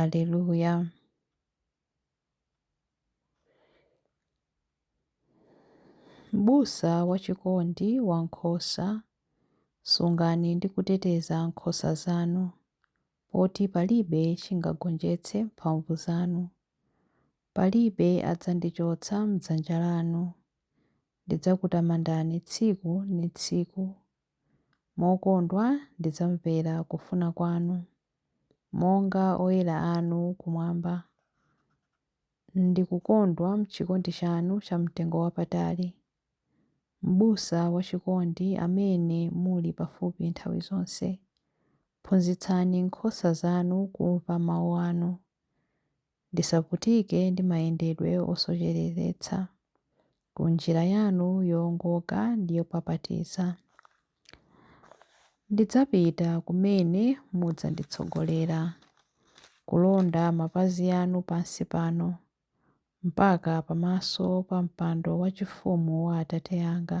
Aleluya. M'busa wachikondi wa nkhosa, sungani ndi kuteteza nkhosa zanu, poti palibe chingagonjetse mphamvu zanu. Palibe adzandichotsa m'dzanja lanu. Ndidzakutamandani tsiku ndi tsiku. Mokondwa ndidzamvera kufuna kwanu. monga oyera anu kumwamba. Ndikukondwa m'chikondi chanu chamtengo wapatali, Mbusa wachikondi amene muli pafupi nthawi zonse. Phunzitsani nkhosa zanu kumva mawu anu. ndisavutike ndi mayendedwe osocheretsa ku njira yanu yoongoka ndi yopapatiza. Ndidzapita kumene mudzanditsogolera, kulonda mapazi anu pansi pano, mpaka pamaso pa mpando wachifumu wa Atate anga.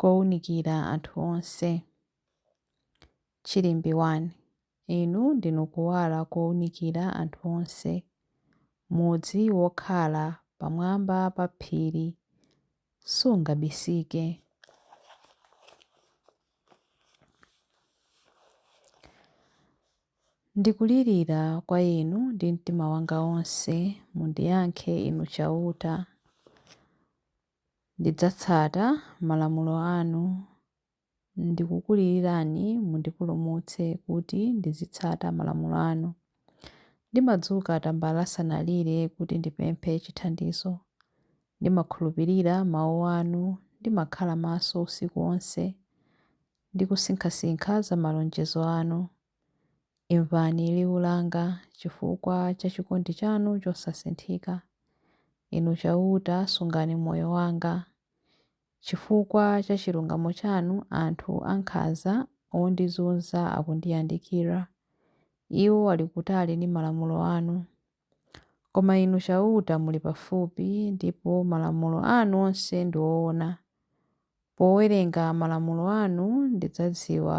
kounikira anthu onse. Chilimbi 1. Inu ndinu kuwala kounikira anthu onse. Mudzi wokhala pamwamba pa phiri sungabisike. Ndikulirira kwa Inu ndi mtima wanga wonse, mundiyankhe Inu Chauta. Ndidzatsata malamulo anu. Ndikukulilirani mundipulumutse kuti ndizitsata malamulo anu. Ndimadzuka tambala asanalire kuti ndipemphe chithandizo. Ndimakhulupirira mawu anu. Ndimakhala maso usiku onse ndi kusinkhasinkha za malonjezo anu. Imvani liwu langa chifukwa cha chikondi chanu chosasinthika, Inu Chauta, sungani moyo wanga. Chifukwa cha chilungamo chanu anthu ankhanza ondizunza akundiyandikira, Iwo ali kutali ndi malamulo anu. Koma Inu Chauta muli pafupi, ndipo malamulo anu onse ndi oona. Powerenga malamulo anu ndidzadziwa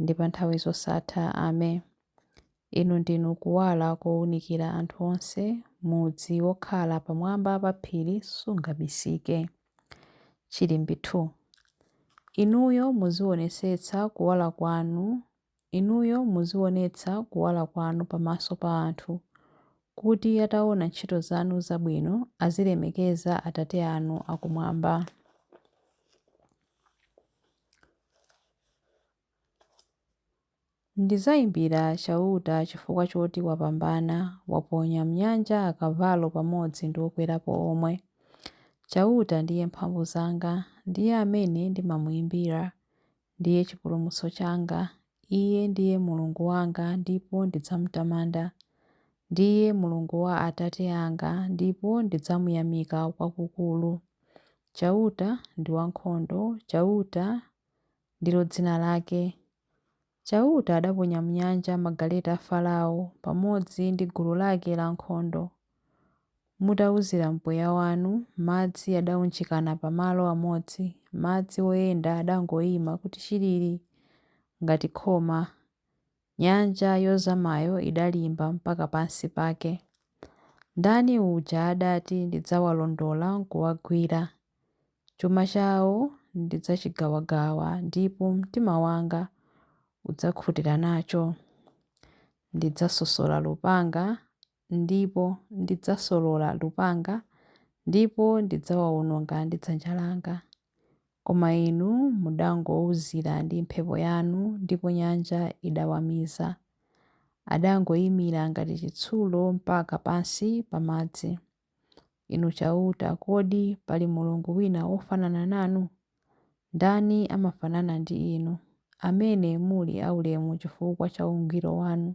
ndi pa nthawi zosatha. Amen. Inu ndinu kuwala kounikira anthu onse, mudzi wokhala pamwamba pa phiri sungabisike. Chilimbi 2. Inuyo muzionetsetsa kuwala kwanu Inuyo muzionetsa kuwala kwanu pamaso pa anthu, kuti ataona ntchito zanu zabwino azilemekeza Atate anu akumwamba. Ndidzaimbira Chauta chifukwa choti wapambana, waponya m'nyanja akavalo pamodzi ndi okwerapo omwe. Chauta ndiye mphamvu zanga, ndiye amene ndimamuimbira, ndiye chipulumutso changa, Iye ndiye Mulungu wanga ndipo ndidzamtamanda. Ndiye Mulungu wa atate anga ndipo ndidzamuyamika kwakukulu. Chauta ndi wankhondo, Chauta ndilo dzina lake. Chauta adaponya m'nyanja magaleta a Farao pamodzi ndi gulu lake lankhondo. Mutauzira mpweya wanu, madzi adaunjikana pa malo amodzi, madzi oyenda adangoima kuti chilili ngati khoma. Nyanja yozamayo idalimba mpaka pansi pake. Mdani uja adati ndidzawalondola nkuwagwira? Chuma chao ndidzachigawagawa ndipo mtima wanga udzakhutira nacho. Ndidzasosola lupanga ndipo ndidzasolola lupanga ndipo ndidzawawononga ndi dzanja langa. Koma inu mudangouzira ndi mphepo yanu ndipo nyanja idawamiza. Adangomira ngati chitsulo mpaka pansi pa madzi. Inu Chauta, kodi pali Mulungu wina wofanana nanu? Ndani amafanana ndi inu, amene muli aulemu chifukwa cha ungwiro wanu?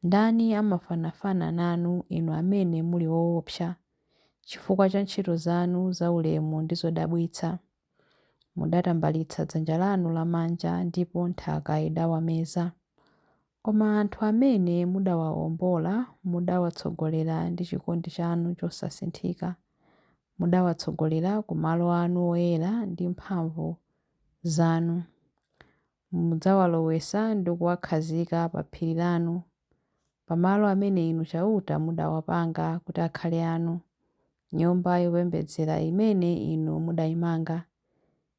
Ndani amafanafana nanu, inu amene muli woopsa, chifukwa cha ntchito zanu zaulemu ndi zodabwitsa? Mudatambalitsa dzanja lanu lamanja ndipo nthaka idawameza. Koma anthu amene mudawaombola mudawatsogolera ndi chikondi chanu chosasinthika. Mudawatsogolera ku malo anu oyera ndi mphamvu zanu. Mudzawalowetsa ndi kuwakhazika pa phiri lanu, pa malo amene Inu Chauta mudawapanga kuti akhale anu, Nyumba yopembedzera imene Inu mudaimanga.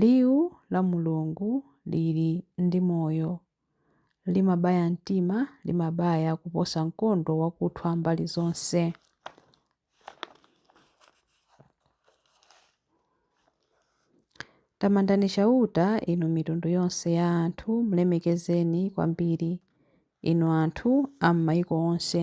Liwu la Mulungu liri ndi Moyo, limabaya mtima, limabaya kuposa mkondo wakuthwa mbali zonse. Tamandani Chauta, inu mitundu yonse ya anthu, mlemekezeni kwambiri, inu anthu a m'maiko onse.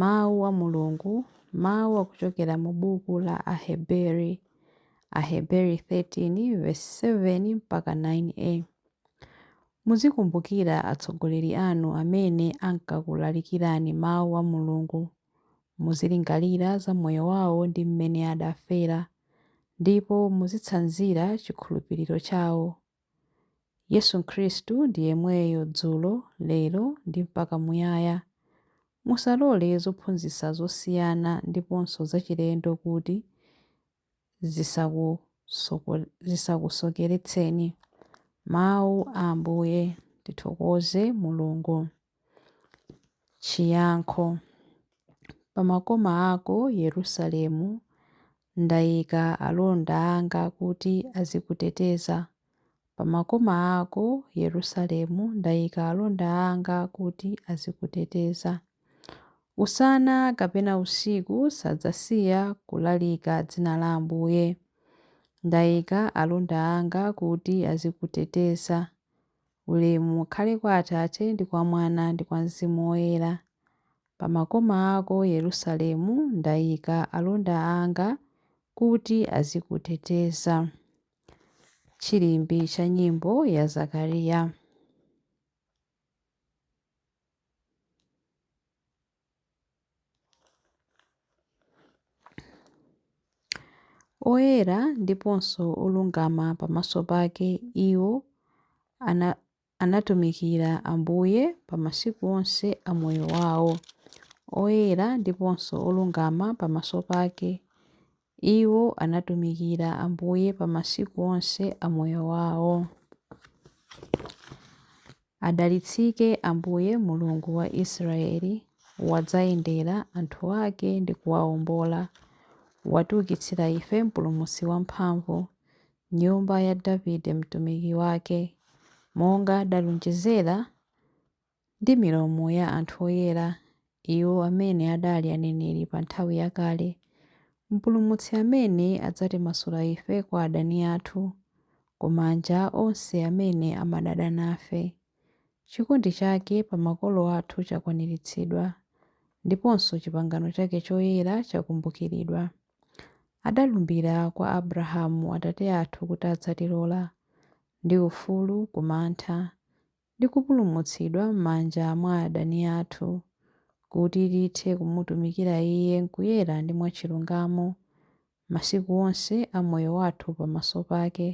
Mawu a Mulungu, mawu akuchokera mu buku la Aheberi, Aheberi 13 vesi 7 mpaka 9a. Muzikumbukira atsogoleri anu amene ankakulalikirani mawu a Mulungu. Muzilingalira za moyo wawo ndi mmene adafera, ndipo muzitsanzira chikhulupiriro chawo. Yesu Khristu ndi yemweyo dzulo, lero, ndi mpaka muyaya. Musalole zophunzitsa zosiyana ndiponso zachilendo kuti zisakusokeretseni. Mawu a Ambuye. Tithokoze Mulungu. Chiyankho Pa makoma ako, Yerusalemu, ndaika alonda anga kuti azikuteteza. Pa makoma ako, Yerusalemu, ndaika alonda anga kuti azikuteteza. Usana kapena usiku sadzasiya kulalika dzina la Ambuye. Ndaika alonda anga kuti azikuteteza. Ulemu ukhale kwa Atate, ndi kwa Mwana, ndi kwa Mzimu Woyera. Pa makoma ako, Yerusalemu, ndaika alonda anga kuti azikuteteza. Chilimbi cha Nyimbo ya Zakariya. Oyera ndiponso olungama pamaso pake iwo ana, anatumikira Ambuye pa masiku onse a moyo wawo. Oyera ndiponso olungama pamaso pake Iwo anatumikira Ambuye pa masiku onse a moyo wawo. Adalitsike Ambuye Mulungu wa Israeli, wadzayendera anthu ake ndi kuwaombola, watiukitsira ife mpulumutsi wamphamvu, m'nyumba ya Davide mtumiki wake, monga adalonjezera Ndi milomo ya anthu oyera, iwo amene adali aneneri pa nthawi yakale, Mpulumutsi amene adzatimasula ife kwa adani athu, ku manja a onse amene amadana nafe. Chikondi chake pa makolo athu chakwaniritsidwa, ndiponso chipangano chake choyera chakumbukiridwa. Adalumbira kwa Abrahamu atate athu kuti adzatilola, ndi ufulu ku mantha, ndi kupulumutsidwa m'manja mwa adani athu, kuti tithe kumutumikira Iye m'kuyera ndi mwachilungamo, masiku onse a moyo wathu pamaso pake.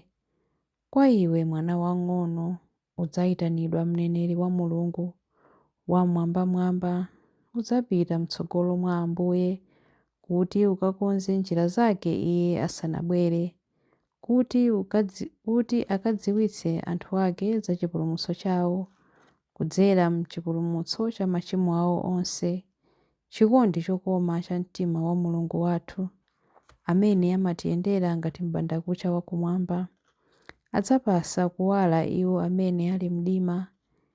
Kwa iwe, mwana wang'ono, udzaitanidwa mneneri wa Mulungu Wam'mwambamwamba, udzapita m'tsogolo mwa Ambuye, kuti ukakonze njira zake Iye asanabwere, kuti kuti akadziwitse anthu ake za chipulumutso chawo kudzera m'chipulumutso cha machimo awo onse, chikondi chokoma cha mtima wa Mulungu wathu, amene amatiyendera ngati m'bandakucha wa kumwamba, adzapasa kuwala iwo amene ali m'mdima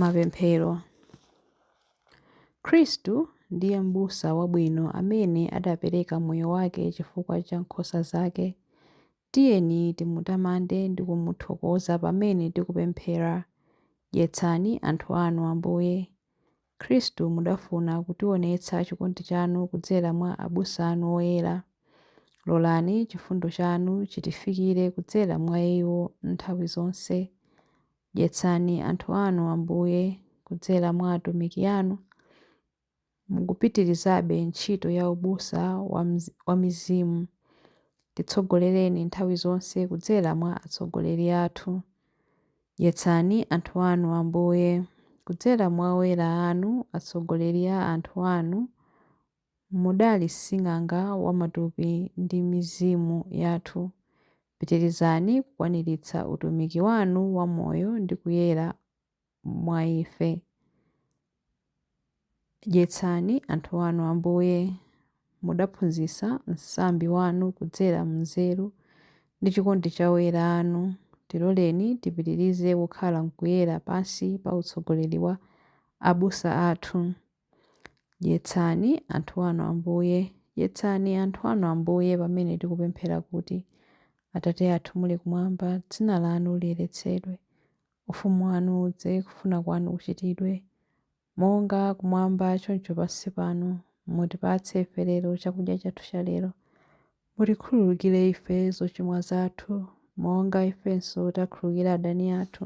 Mapemphero. Khristu ndiye m'busa wabwino amene adapereka moyo wake chifukwa cha nkhosa zake. Tiyeni timutamande ndi kumuthokoza pamene tikupemphera. Dyetsani anthu anu, Ambuye. Khristu, mudafuna kutiwonetsa chikondi chanu kudzera mwa abusa anu oyera. Lolani chifundo chanu chitifikire kudzera mwa iwo nthawi zonse. Dyetsani anthu anu, Ambuye, kudzera mwa atumiki anu, mukupitirizabe ntchito ya ubusa wa mizimu. Titsogolereni nthawi zonse kudzera mwa atsogoleri athu. Dyetsani anthu anu, Ambuye, kudzera mwa oyera anu, atsogoleri a anthu anu, mudali sing'anga wa matupi ndi mizimu yathu. Pitirizani kukwaniritsa utumiki wanu wa moyo ndi kuyera mwa ife. Dyetsani anthu anu, Ambuye. Mudaphunzitsa msambi wanu kudzera m'nzeru ndi chikondi cha oyera anu. Tiloleni tipitirize kukhala m'kuyera pansi pa utsogoleri wa abusa athu. Dyetsani anthu anu, Ambuye. Dyetsani anthu anu, Ambuye, pamene tikupemphera kuti, Atate athu muli kumwamba, dzina lanu liyeretsedwe. Ufumu wanu udze. Kufuna kwanu kuchitidwe, monga kumwamba choncho pansi pano. Mutipatse ife lero chakudya chathu chalero. Mutikhululukire ife zochimwa zathu, monga ifenso takhululukira adani athu.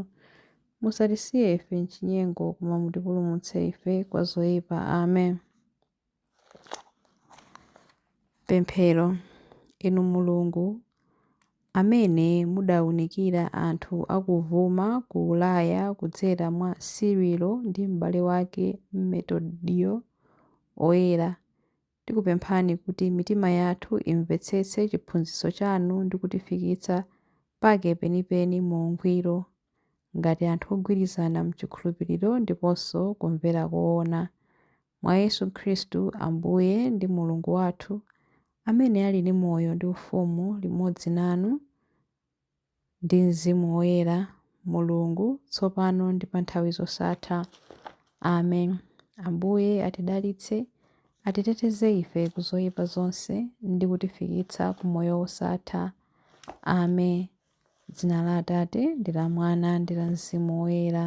Musatisiye ife m'chinyengo, koma mutipulumutse ife kwa zoipa. Amen. Pemphero Inu Mulungu, amene mudaunikira anthu akuvuma ku Ulaya kudzera mwa Sirilo ndi m'bale wake Metodiyo Oyera, tikupemphani kuti mitima yathu imvetsetse chiphunzitso chanu ndi kutifikitsa pake penipeni mu ungwiro, ngati anthu ogwirizana m'chikhulupiriro ndiponso kumvera koona. mwa Yesu Khristu Ambuye ndi Mulungu wathu, amene ali ndi moyo ndi ufumu limodzi nanu ndi mzimu woyera, Mulungu, tsopano ndi pa nthawi zosatha. Amen. Ambuye atidalitse, atiteteze ife ku zoyipa zonse ndi kutifikitsa ku moyo wosatha. Amen. Dzina la Atate, ndi la Mwana, ndi la Mzimu Woyera.